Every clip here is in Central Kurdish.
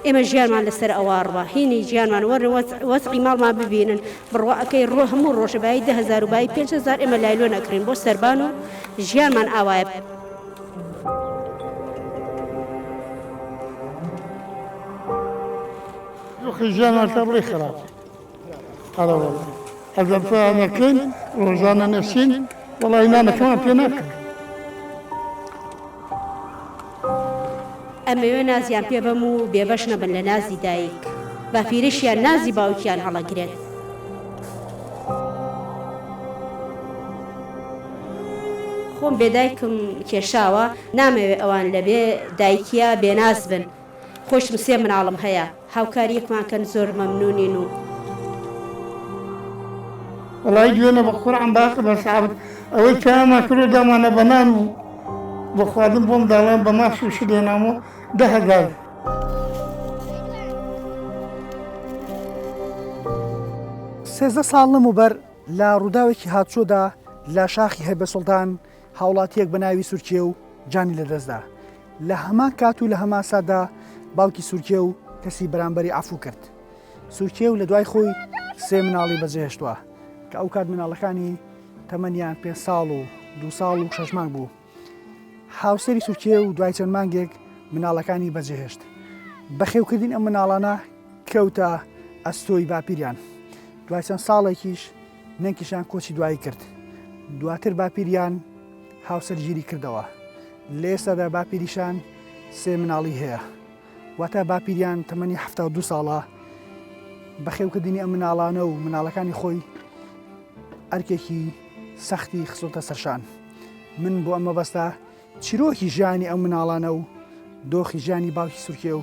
ئێمە ژیانمان لەسەر ئەوواڕوە هینی ژیانمان وەر وەزعی ماڵمان ببینن بڕواکەی ڕۆ هەموو ڕۆژە بای دههزار و بای پێهزار ئێمە لایلۆ نەکرین بۆ سەربان و ژیانمان ئاوایە ژیانمان تەڕڵی خراپ. هەرەوەڵا ئەگەر فەیانەکەین ڕۆژانە نەشین وەڵی نانەکەمان پێ ناکەن ئەمەوێ نازیان پێ بەم و بێبەش نەبن لە نازی دایک بەفیرشیان نازی باوکیان هەڵەگرێت خۆم بێدایکم کێشاوە نامەوێ ئەوان لەبێ دایکیا بێناز بن خۆشم سێ مناڵم هەیە هاوکاریەکمان کەن زۆر مەمنونین و. وەڵایی گوێنە بە قوڕعم باسە بە سابت ئەوەی چایامان کردو دامانە بە نان و بۆ خواردن بۆم داوایان بە ماس و شت هێنامۆ دە هەزار. سێزدە ساڵ لەمەوبەر لە ڕووداوێکی هاتوچۆدا لە شاخی هەیبەسوڵتان هاوڵاتییەک بە ناوی سورکێو جانی لەدەستدا، لە هەمان کات و لە هەمان ساتدا باوکی سورکێو کەسی بەرامبەری عەفوو کرد. سورکێو لە دوای خۆی سێ مناڵی بەجێهێشتووە، کە ئەو کات مناڵەکانی تەمەنیان پێنج ساڵ و دوو ساڵ و شەش مانگ بوو. هاوسەری سورکێو دوای چەند مانگێک مناڵەکانی بەجێهێشت. بەخێوکردنی ئەم مناڵانە کەوتە ئەستۆی باپیریان. دوای چەند ساڵێکیش، نەنکیشان کۆچی دوایی کرد. دواتر باپیریان هاوسەرگیری کردەوە. لە ئێستادا باپیریشان سێ مناڵی هەیە. واتە باپیریان تەمەنی حەفتا و دوو ساڵە. بەخێوکردنی ئەم مناڵانە و مناڵەکانی خۆی ئەرکێکی سەختی خستۆتە سەرشان. من بۆ ئەم مەبەستە چیرۆکی ژیانی ئەم مناڵانە و دۆخی ژیانی باوکی سورکێ و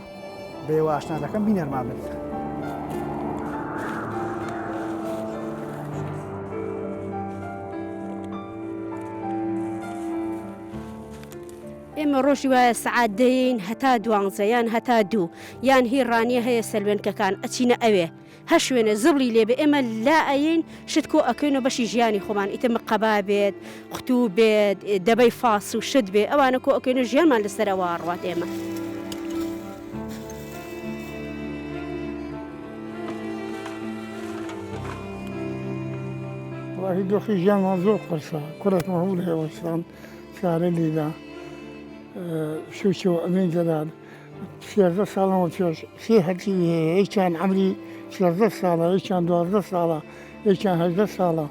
بەێوە ئاشنا دەکەم بینەرمان بن. ئێمە ڕۆژی وایە سعات دەین هەتا دوانزە یان هەتا دوو یان هی ڕانیە هەیە سەلوێنکەکان ئەچینە ئەوێ هەر شوێنێ زبڵی لێ بێ ئێمە لا ئەیەین شت کۆ ئەکەینەوە بەشی ژیانی خۆمان ئیتر مقەبا بێت قوتوو بێت دەبەی فاس و شت بێ ئەوانە کۆ ئەکەینە ژیانمان لەسەر ئەوە ڕات ئێمە. وەڵاهی دۆخی ژیانمان زۆر قورسە کوڕێکمان هەبوو لە ئێوەستان کارە لێدا شووشەوە ئەمێن جەلال سیازدە ساڵە وەچۆش سێ هەرچوی هەیە یەکیان عەمری سیازدە ساڵە یەکیان دوازدە ساڵە یەکیان هەژدە ساڵە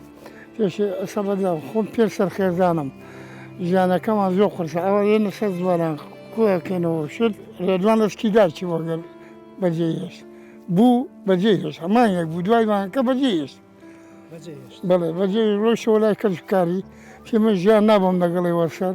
پێش ئەسە بەدا خۆم پێ سەرخێزانم ژیانەکەمان زۆر قرسە ئەوە یێنە سەر زوانان کوەکەنەوە شت ڕێدوان لەسکی داچی وەگەر بەجێ هێشت بوو بەجێ هێش هەمان یەک بوو دوای مانکە بەجێ هێشت بەڵێ بەجێ ڕۆشەوە لای کەسکاری پێمە ژیان نابم لەگەڵی وەسەر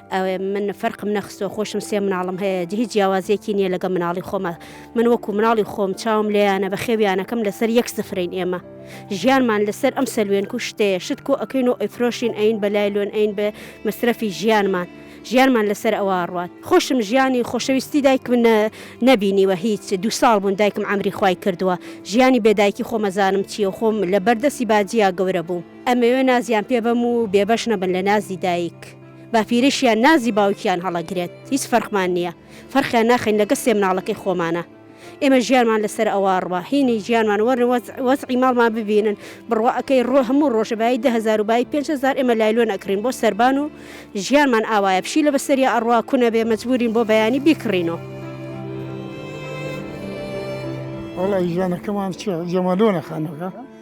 من فەرقم نەخستۆ خۆشم سێ مناڵم هەیە هیچ جیاوازیەکی نییە لەگە مناڵی خۆمە من وەکو مناڵی خۆم چاوم لێیانە بە خێویانەکەم لەسەر یەک سفرین ئێمە ژیانمان لەسەر ئەم سەلوێن کوشتەیە شت کۆ ئەەکەین و ئەیفرۆشین ئەین بە لای لۆن ئەین بە مەسرەفی ژیانمان. ژیانمان لەسەر ئەوە ڕات خۆشم ژیانی خۆشەویستی دایک من نەبینیوە هیچ دو ساڵ بوون دایکم ئەمری خی کردووە ژیانی بێدایکی خۆمەزانم چیە خۆم لە بەردەسی باجیا گەورە بوو ئەمەوێ نازیان پێ بەم و بێبەش نەبن لە نازی دایک. باپیریشیان نازی باوکیان هەڵەگرێت هیچ فەرقمان نیە فەرقیان ناخەین لەگە سێ مناڵەکەی خۆمانە ئێمە ژیانمان لەسەر ئەوە ڕوە هینی ژیانمان وەرن وەزعی ماڵمان ببینن بڕوا ئەکەی ڕۆ هەموو ڕۆژە بای دههزار و بای پێنج هزار ئێمە لایلۆن ئەکرین بۆ سەربان و ژیانمان ئاوایە پشی لە بەسەریا ئەڕوا کونە بێ مەجبورین بۆ بەیانی بیکڕینەوە وەڵای ژیانەکەمان چ جەمالۆنە خانەکە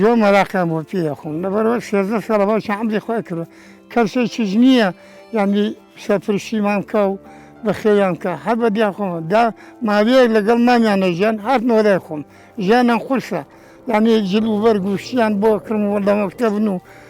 زۆر مەراقیان بۆ پێ ئەخۆم لەبەرئەوە سێزدە ساڵە باسی عەمری خۆی کردووە کەسێکیش نییە یانی سەرپەرشتیمان بکا و بەخێویان بکا هەر بە دیار خۆمە دا ماوەیەک لەگەڵ مامیانە ژیان هاتنەوە لای خۆم ژیانیان قورسە یانی جل و بەرگ و شتیان بۆ کڕم و لە مەکتەبن و